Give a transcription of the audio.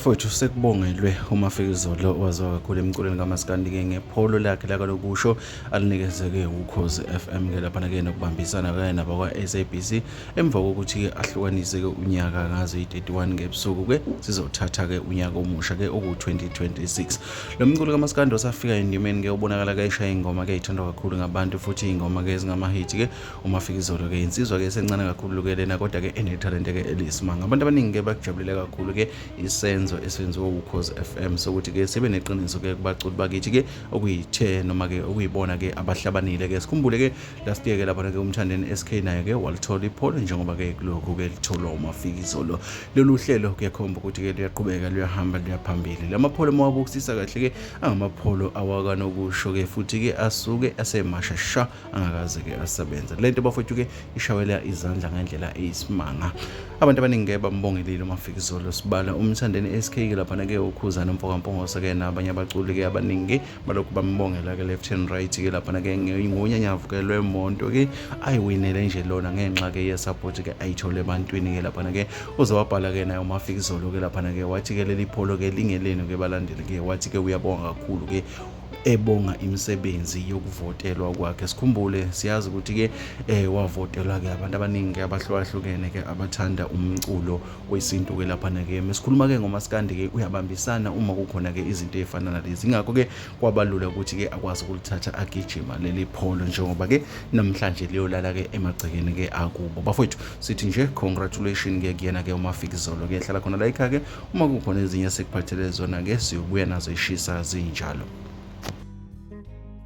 mfowethu sekubongelwe uma fika izolo waziwa kakhulu emculweni kamasikandi-ke ngepholo lakhe lakalokusho alinikezeke ukhozi f m ke laphana ke nokubambisana kanye nabakwa-sabc emva kokuthi-ke ahlukanise-ke unyaka ngazo yi-31 ngebusuku-ke sizothatha-ke unyaka omusha-ke oku-2026 lo mculi kamasikandi osafika endimeni-ke ubonakala-ke eshaya ingoma-ke ithandwa kakhulu ngabantu futhi ingoma-ke ezingamahithi-ke uMafikizolo ke insizwa ke esencane kakhulu ke lena kodwa ke enethalente ke eliyisimanga abantu abaningi ke bakujabulele kakhulu ke isenzo esenziwe ukhozi FM sokuthi ke sibe neqiniso ke kubaculi bakithi ke okuyithe noma ke okuyibona ke abahlabanile ke sikhumbule ke last year ke lapha ke umthandeni SK naye ke walithola ipholo njengoba ke kulokhu ke litholwa uMafikizolo lolu hlelo kuyakhomba ukuthi ke luyaqhubeka luyahamba luyaphambili lamapholo mawabukisisa kahle ke angamapholo awakanokusho ke futhi ke asuke asemashasha angakaze ke asebenze lento bafowethu ke ishawela izandla ngendlela eyisimanga abantu abaningi ke bambongelile umafikizolo sibala umthandeni SK ke lapha ke ukhuzana umfokampongose ke nabanye abaculi ke abaningi balokhu bambongela ke left and right ke lapha ke ngonyanyavu ke lwemonto ke ayiwinele nje lona ngenxa ke ye support ke ayithole ebantwini ke lapha ke uze wabhala ke naye umafikizolo ke lapha ke wathi ke leli pholo ke lingelenu ke balandeli ke wathi ke uyabonga kakhulu ke ebonga imisebenzi yokuvotelwa kwakhe sikhumbule siyazi ukuthi ke eh wavotelwa ke abantu abaningi ke abahlukahlukene ke abathanda umculo wesintu ke lapha na ke mesikhuluma ke ngomaskandi ke uyabambisana uma kukhona ke izinto ezifana nalezi ngakho ke kwabalula ukuthi ke akwazi ukulithatha agijima leli pholo njengoba ke namhlanje liyolala ke emagcekeni ke akubo bafowethu sithi nje congratulations ke kuyena ke umafikizolo ke hlala khona la ikhaya ke Uma kukhona ezinye esikuphathele zona, ke siyobuya nazo ishisa zinjalo.